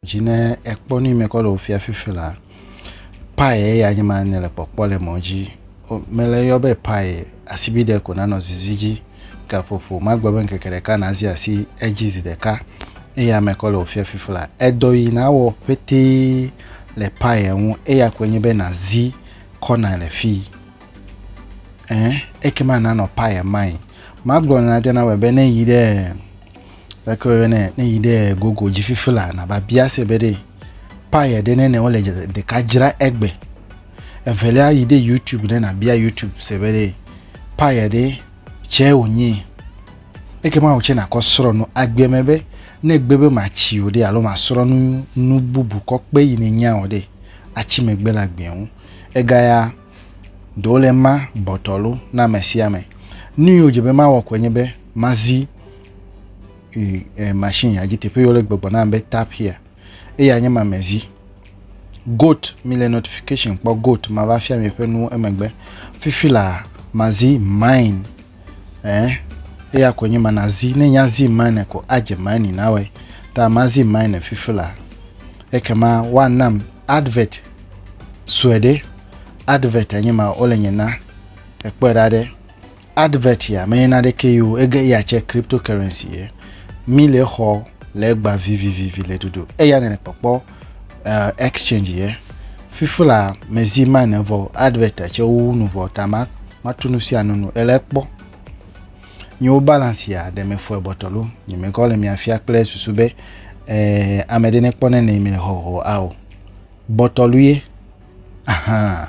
Dzi ne ekpɔ nu yi me kɔ le wò fia fifi la, paye eya nye ma ne le kpɔkpɔ le mɔ dzi. O, mele yɔ be paye, asibi ɖe ko nanɔ zizi dzi. Gaƒoƒo, magbe be ŋkeke ɖeka nazi asi edzi zi ɖeka. Eya me kɔ le wò fia fifi la. Edɔ yi nawɔ ƒetee le paye ŋu, eya koe nye be nazi kɔna le fii. Ẽ, ekema nanɔ paye mai. Magblɔ na Diana be ne yi ɖe. Leke woyɔnɛ? Ne yi ɖe gogo dzi fifi la, nava bia se be ɖe paya ɖe nene wole ɖeka dzra egbe. Evelia yi ɖe YouTube ɖe nabia YouTube se be ɖe paya ɖe tsɛ wònyi. Eke ma wòtsɛ nakɔ srɔ̃ nu agbe me be ne gbe be matsi o ɖe alo masrɔ̃ nu nu bubu kɔ kpe yi nenya o ɖe, atsi megbe le agbe ŋu. Egaya Ɖe wole ema bɔtɔlo na amesiame. Nuyi wodze be mawɔ koe nye be mazi machine ya dzi teƒe yi wole gbɔgbɔ nam be tap here eya nye ma mezi. Goat mile notification kpɔ goat mava fia mi ƒe nuwo emegbe. Fifi la mazi mine eh eya koe nye ma nazi ne nya zi mine ko adze mine nawɔe ta mazi mine fifi la ekema woanam advert sue ɖe advert enye ma wole nye na ekpɔe ɖa ɖe advert ya menye na ɖeke yo ege ya tse cryptocurrency ye mi le xɔ le gba vivivivi le dodo eya ne le kpɔkpɔ uh, exchange ye fifula mezi ma ne vɔ advert tse wo nu vɔ ta ma ma tu nu sia nu nu ele kpɔ nyewo balance ya ɖe me fɔe bɔtɔ lo nye me kɔ le mia fia kple susu be eh, ame ɖe ne kpɔ ne ne mi le hɔhɔ ao Gbɔtɔlue, ahan,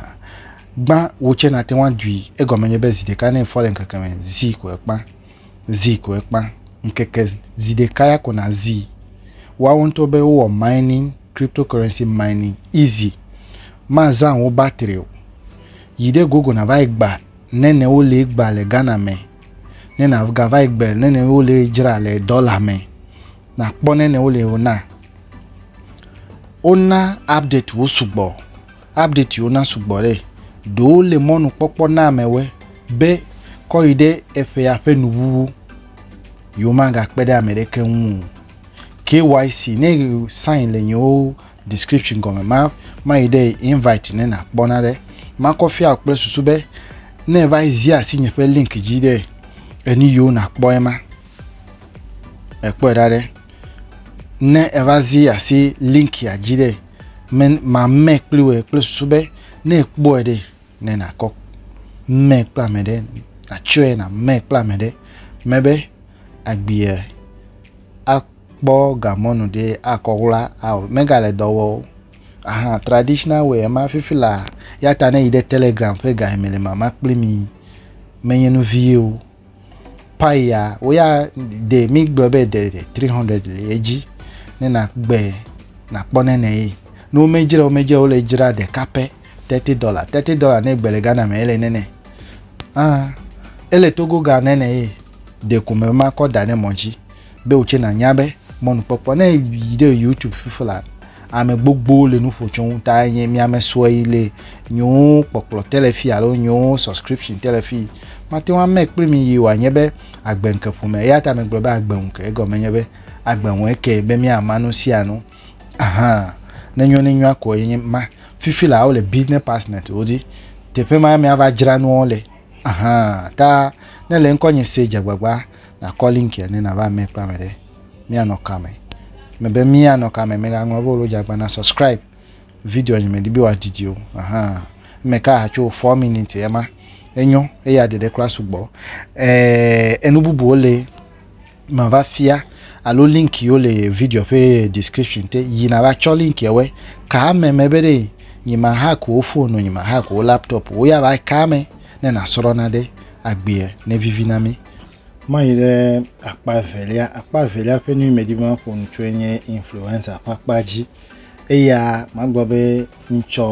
gbã wò tsɛ nàte ŋu adui. Egɔme nye be zi ɖeka ne efɔ le ŋkeke me, zi ko ekpã. Zi ko ekpã. Ŋkeke zi ɖeka ya ko nàzii. Woawo ŋutɔ be wowɔ mining, cryptocurrency mining, easy. Mazã wò battery o. Yi ɖe Google nàva yi gba ne ne wolee gba le Ghana me, ne nàgava yi gbe ne ne wolee dzra le dollar me. Nakpɔ ne ne wole wona. Wona update wo sugbɔ. Update wona sugbɔ ɖe. Ɖewo le mɔnukpɔkpɔ na amewe be kɔ yi ɖe eƒea ƒe nuwuwu. Yewomagakpe ɖe ame ɖeke ŋu o. KYC ne sign le yewo description gɔme ma mayi ɖe invite ne nakpɔ na ɖe. Makɔ fia kple susu be ne va zi asi nye ƒe link dzi ɖe enu yiwo nakpɔ ema. Ekpɔe ɖa ɖe. Ne eva zi asi linkia dzi ɖe, me mamɛ kpli wòe kple susu be ne èkpɔe ɖe, ne nàkɔ mɛ kple ame ɖe, nàtsɔe nàmɛ kple ame ɖe, mebe agbia akpɔ gamɔnu ɖe akɔ wla ao megale dɔ wɔ o. Aha traditional way ema fifi laa. Ya ta ne yi ɖe Telegram ƒe ga yi me le mama kpli mi menye nu vie o. pai ya wo ya de mi gblɔ be de 300 le edzi ne na gbe na kpɔ ne ne yi no me dzra o me dzra o le dzra de kape 30 dollar 30 dollar ne gbe le gana me ele ne ne ah ele togo ga ne ne yi de kume ma kɔ da ne mo dzi be wò tse nànya be mɔnukpɔkpɔ ne yi ɖe youtube fifi la ame gbogbo le nuƒo tso ŋu ta nye miame sue yi le nyewo kpɔkplɔ telefi alo nyewo subscription telefi mate ŋu ame kple mi yi wòanye be agbe ŋke ƒome eya ta megblɔ be agbe ŋu ke egɔme nye be agbe ŋu eke be miama nu sia nu ahan ne nyo ne nyoa ko yenye ma fifi la wole business partner wo dzi teƒe ma miava dzra nuwo le ahan ta ne le ŋkɔ nye se dzegbagba Nakɔ link ya ne nava eme kpla me ɖe. Míanɔ kame. Mebe míanɔ kame mègaŋlɔ be wò dzi agbã na subscribe video nye medi be wòadidi o. Ahan. Eme ka hatso four minutes ye ma. Enyo eya ɖeɖe kura sugbɔ. Eh enu bubuwo le mava fia alo link yiwo le video ƒe description te yi nava tsɔ link yewɔe ka ame me be ɖe nyi ma hack wo phone nyi ma hack wo laptop wo ya va ka ame ne nasrɔ̃ na ɖe agbea ne vivi na mi. Mayi ɖe akpa evelia. Akpa evelia ƒe nu yi medi be maƒo nu tsoe nye influenza ƒe akpa dzi. Eya magblɔ be ŋtsɔ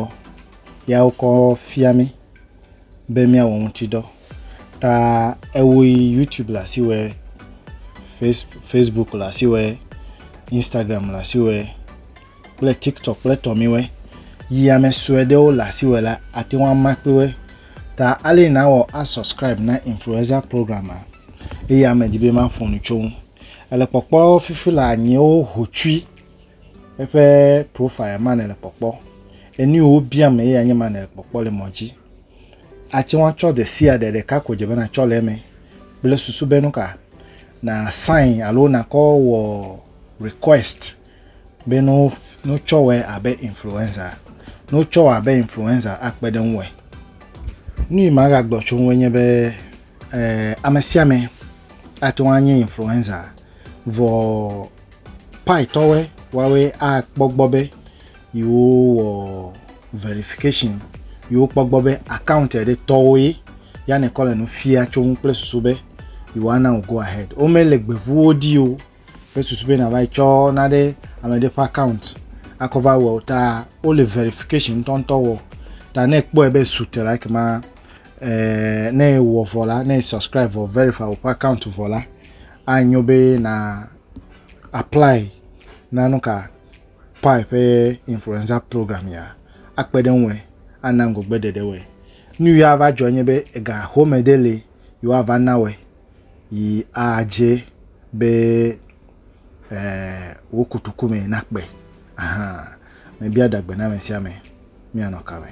ya wokɔ fia mí be míawɔ ŋuti dɔ. Ta ewo yi YouTube le asi wɔe, Face Facebook le asi wɔe, Instagram le asi wɔe kple tiktok kple tɔmiwɛ yi ame sue ɖewo le asi wɔ la ate ŋu ama kpewe ta ale na wɔ asubscribe na influencer program a eye ame di be ma ƒo nu tso ŋu ele kpɔkpɔ fifi le anyiwo hotsui eƒe profile ma ne le kpɔkpɔ enu wo bia me eye anye ma ne le kpɔkpɔ le mɔ dzi ate ŋu atsɔ de sia ɖe ɖeka ko dze be na tsɔ le eme kple susu be nu ka na sign alo nakɔ wɔ request be ne wo ne wotsɔ wɔe abe influenza ne wotsɔ wɔ abe influenza akpe ɖe ŋuwɔe. Nu yi magagblɔ tso ŋue nye be eh, ame sia ame ate ŋu anye influenza vɔ paitɔwe woawe akpɔ gbɔ be yewowɔ verification yewokpɔ gbɔ be account ɖe tɔwo ye ya nekɔ le nu fia tso ŋu kple susu be yewoana wo go ahead womele gbevuwo ɖi o Kple susu be nàva yi tsɔ nane ame ɖe ƒe account akɔ va wɔ ta wole verification ŋutɔŋutɔ wɔ ta ne ekpɔe be su te la ekema eh, ne ewɔ vɔ la ne subscribe vɔ verify woƒe account vɔ la anyo be na apply na nu ka pi ƒe influenza program ya akpe ɖe ŋue ana ŋgɔgbe ɖeɖe wɔe nu ya va dzɔ nye be ega home ɖe le yewoava na wɔe yi adze be e, wò kotoku me nakpe. Aha, mebia ɖagbe na ame sia ame, míanɔ ka me?